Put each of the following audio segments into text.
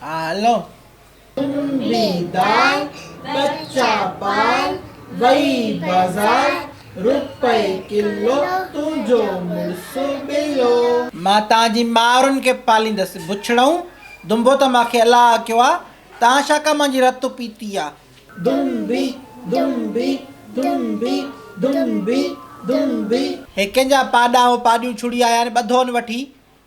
آ هلو. تنبي دار ڪچا پال وئي بازار روپئي ڪلو تنهنجو مڙس ٻلو. مان توهان جي مائرن کي پاليندس بڇڙئون دنبو ته مان کي الله آکيو آ توهان ڇا ڪا مانجي رت پيتي آ. دنبي دنبي دنبي دنبي دنبي. هي ڪنهن جا پاڏا هو پاڏيون ڇڙي آيا آهن ٻڌون وٺي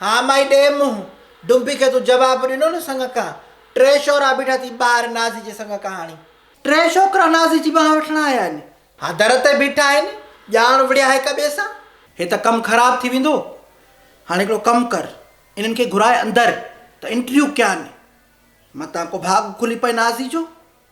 ها مائي ڏي منهن ڊنبي کي تون جواب ڏنو نه سڱ کان ٽي شورا بيٺا ٿي ٻاهر نازي جي سڱ کان هاڻي. ٽي شوڪرا نازي جي ٻانهن وٺڻ آيا آهن. ها در تي بيٺا آهن ڄاڻ وڙهيا هڪ ٻئي سان. هي ته ڪم خراب ٿي ويندو هاڻي هڪڙو ڪم ڪر انهن کي گهرائي اندر ته انٽريو ڪيان متان ڪو ڀاڳ کلي پئي نازي جو.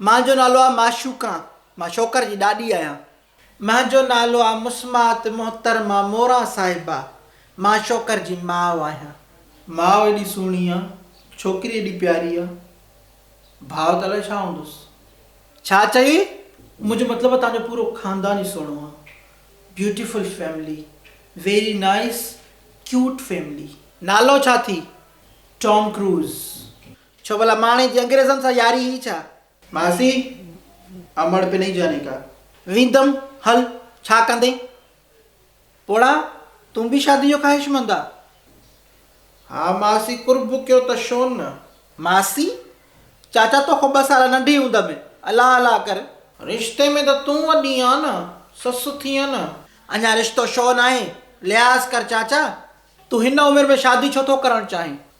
مان جو نالو آ معشوقا، مان شوڪر جي ڏاڏي آهيان. مان جو نالو آ مسمات محترمه موران صاحبه، مان شوڪر جي ماء آهيان. ماء ايڏي سهڻي آ، ڇوڪري ايڏي پياري آ، ڀاء ته الائي ڇا هوندس. ڇا چئي؟ منهنجو مطلب آ تنهنجو پورو خاندان ئي سهڻو آ. Beautiful family, very nice cute family. نالو ڇا ٿي؟ Tom Cruise. ڇو ڀلا ماڻهي جي انگريزن سان ياري هئي ڇا؟ ماسي، امڙ پي نهين جاني ڪا. ويندم، هل، ڇا ڪندين؟ پوڙها، تون به شادي جو خواهشمند آ؟ ها ماسي، قرب ڪيو ته شون نه. ماسي، چاچا تو کان ٻه سال ننڍي هوند ۾ الا الا ڪر. رشتي ۾ ته تون وڏي آن نه، سس ٿينء نه. اڃا رشتو شو ناهي، لحاظ ڪر چاچا. تون هن عمر ۾ شادي ڇو ٿو ڪرڻ چاهين؟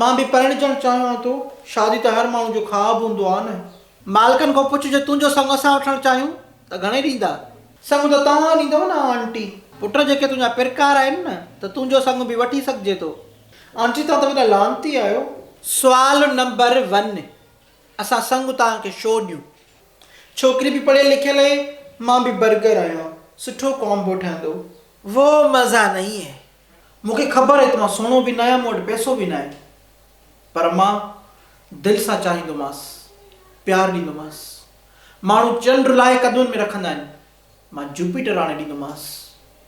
مان به پرڻجڻ چاهيان ٿو. شادي ته هر ماڻهو جو خواب هوندو آهي نه. مالڪن کان پڇ جو تنهنجو سڱ اسان وٺڻ چاهيون ته گهڻي ڏيندا. سڱ ته توهان ڏيندو نه آنٽي. پٽ جيڪي تنهنجا پرڪار آهن نه ته تنهنجو سڱ به وٺي سگهجي ٿو. آنٽي توهان ته وڏا لعنتي آهيو. سوال نمبر ون اسان سڱ توهان کي شو ڏيون. ڇوڪري به پڙهيل لکيل اهي مان به برگر آهيان سٺو ڪامبو ٺهندو. وو مزا نهين هي مون کي خبر هئي ته مان سهڻو به ناهيان، مون وٽ پئسو به ناهي، پر مان دل سان چاهيندومانس، پيار ڏيندومانس. ماڻهو چنڊ لاهي قدمن ۾ رکندا آهن، مان جوپيٽر آڻي ڏيندومانس.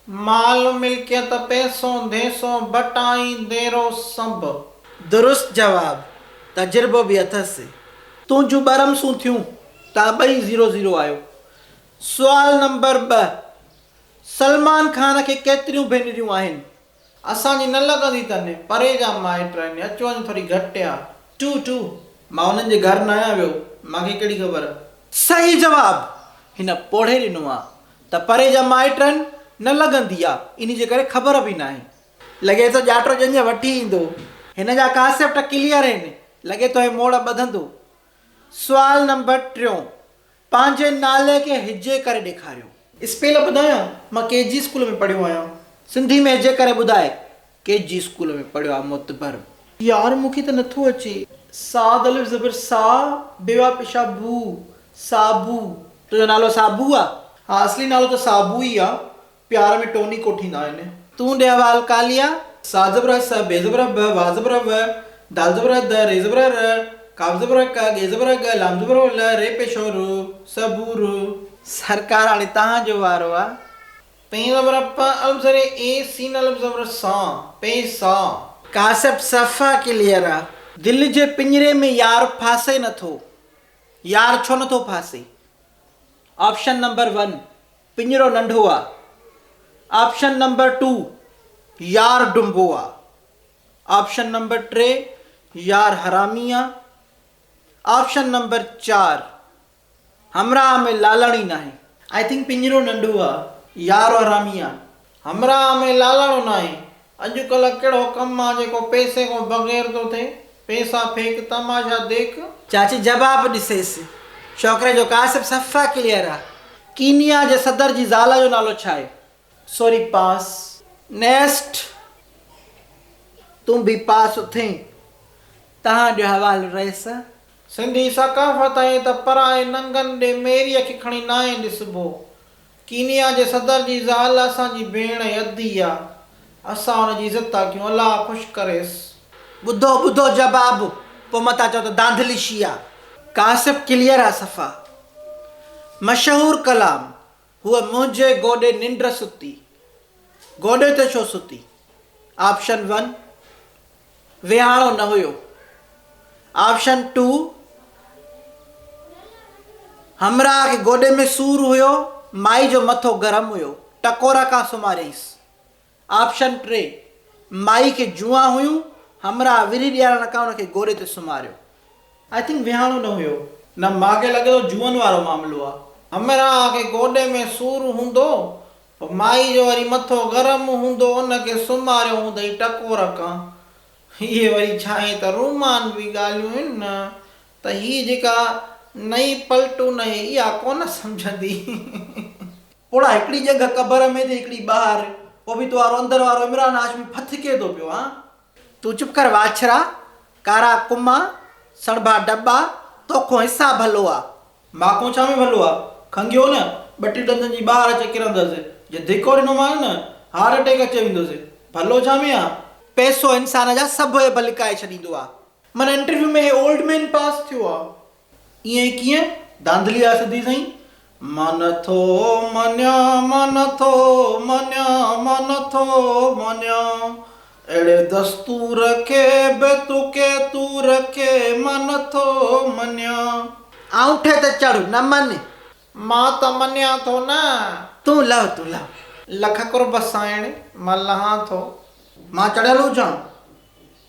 مال ملڪيت، پئسو، ڌيسو، ڀٽائين، ديرو، سڀ. درست جواب، تجربو به اٿس. تون جون ٻه رمسون ٿيون، توهان ٻئي زيرو زيرو آهيو. سوال نمبر ٻه. سلمان خان کي ڪيتريون ڀينريون آهن؟ اسان جي نه لڳندي تن پري جا مائٽ آهن اچ وڃ ٿوري گهٽ آ. ٽو ٽو. مان انهن جي گهر ناهيان ويو مان کي ڪهڙي خبر. صحيح جواب هن پوڙهي ڏنو آ ته پري جا مائٽ آهن نه لڳندي آ انهي جي ڪري خبر به ناهي. لڳي ٿو ڄاٽو ڄڃ وٺي ايندو. هن جا ڪاسيپٽ ڪليئر هين لڳي ٿو هي موڙ ٻڌندو. سوال نمبر ٽيون پنهنجي نالي کي هجي ڪري ڏيکاريو. اسپيل ٻڌايان، مان ڪي جي اسڪول ۾ پڙهيو آهيان. سنڌي ۾ هجي ڪري ٻڌاء. ڪي جي اسڪول ۾ پڙهيو آهي معتبر. يار مون کي ته نه ٿو اچي. صاد الف زبر صا بيوا پشا ڀو، صابو. تنهنجو نالو صابو آ؟ ها اصلي نالو ته صابو ئي آ پيار ۾ ٽوني ڪوٺيندا آهن. تون ڏي احوال ڪاليا. سا زبر س بي زبر ب وا زبر و دال زبر د ري زبر ر قاف زبر ق ڳي زبر ڳ لام زبر ل ري پيشو ر س بو ر. سرڪار هاڻي توهان جو وارو آ. پين زبر پ الف زير اي سين الف زبر سا پي سا. ڪاسب صفا ڪليئر آ. دل جي پڃري ۾ يار ڦاسي نٿو يار ڇو نٿو ڦاسي آپشن نمبر ون. پڃرو ننڍو آ. آپشن نمبر ٽو يار ڊنبو آ. آپشن نمبر ٽي يار حرامي آ. آپشن نمبر چار همراهه ۾ لالاڻي ناهي. آئي ٿنڪ پڃرو ننڍو آ يار حرامي آ. همراهه ۾ لالاڻو ناهي. اڄ ڪلهه ڪهڙو ڪم آ جيڪو پئسي کان بغير ٿو ٿئي. پئسا ڦيڪ تماشا ديک. چاچي جواب ڏسيس. ڇوڪري جو ڪاسب صفا ڪليئر آ. ڪينيا جي صدر جي زال جو نالو ڇا آهي؟ سوري پاس. نيسٽ تون به پاس اٿئين. تهان جو حوالو رئيس. سنڌي ثقافت ائين ته پرائي ننگن ڏي ميريء کي کڻي ناهي ڏسبو. ڪينيا جي صدر جي زال اسان جي ڀيڻ يدي آ اسان ان جي عزت ٿا ڪيون الله خوش ڪريس. ٻڌو ٻڌو جباب پو متا چئو ته دانڌلي شيعا. ڪاشف ڪليئر آ صفا. مشهور ڪلام هوء منهنجي گوڏي ننڊ ستي گوڏي تي ڇو ستي آپشن ون. ويهاڻو نه هيو. آپشن ٽو، همراهه کي گوڏي ۾ سور هيو، مائي جو مٿو گرم هيو، ٽڪورا کان سمهاريس. آپشن ٽي، مائي کي جوئان هيون، همراهه وري ڏيارڻ کان ان کي گوڏي تي سمهاريو. آء ٿنڪ ويهاڻو نه هيو. نه، مان کي لڳي ٿو جوئن وارو معاملو آ. همراهه کي گوڏي ۾ سور هوندو. پوء مائي جو وري مٿو گرم هوندو ان کي سمهاريو هوندئي ٽڪور کان. اهي وري ڇانهين ته رومان به ڳالهيون هن نه ته هيء جيڪا نئين پلٽون اهي اها ڪونه سمجهندي. پوڙها هڪڙي ڄنگهه قبر ۾ ته هڪڙي ٻاهر. پوء به تو وارو اندر وارو عمران هاشمي ڦٿڪي ٿو پيو هان. تون چپ ڪر واڇرا، ڪارا ڪما، سڻڀا ڊٻا، توکون حساب هلو آ. مان ڪو ڇا ۾ ڀلو آ، کنگهيو نه، ٻٽي ڏندن جي ٻاهر اچي ڪرندس، جي ڌڪو ڏنومانس نه، هارٽ اٽيڪ اچي ويندس، ڀلو ڇا ۾ آ. پئسو انسان جا سڀ عيب لڪائي ڇڏيندو آ. معنيٰ انٽرويو ۾ هي اولڊ مين پاس ٿيو آ. ائين ڪيئن؟ ڌانڌلي آ سڌي سائين. مان نٿو مڃان، مان نٿو مڃان، مان نٿو مڃان، اهڙي دستور کي به تو ڪي تور کي مان نه ٿو مڃان. آڱٺي تي چڙهه نه مڃ. مان ته مڃان ٿو نه. تون لهه تون لهه. لک قرب سائڻ مان لهان ٿو. مان چڙهيل هجان.